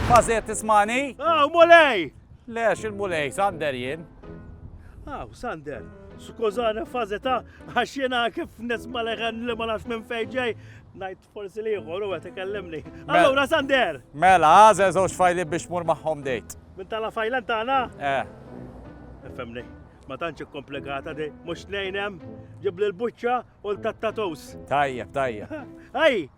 Bażiet tismani? Aw, mulej! Le, x'il-mulej, Sander jien. Aw, Sander, skużani fazeta, għax jena kif nisma leħen li ma nafx minn fejġej, najt forsi liħor u għet ikellimni. Mela. Allura, Sander! Mela, għazel zoċ fajli biex mur maħħom dejt. Minn tala fajlan tana? Eh. Femni, ma tantx komplikata di, mux nejnem, ġibli l-buċċa u l-tattatus. Tajjeb, tajjeb. Ej,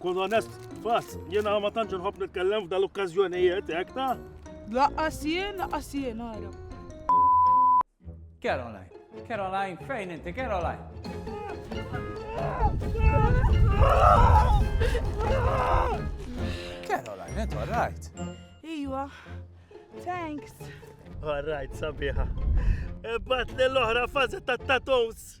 Kun onest, bas, jiena ma tantx nħobb nitkellem f'dal okkażjonijiet hekk ta'. Laqqas jien, laqqas jien ara. Caroline, Caroline, fejn inti Caroline? Caroline, inti all right? Iwa, thanks. All right, sabiħa. Bat l-oħra fazi ta' tatons.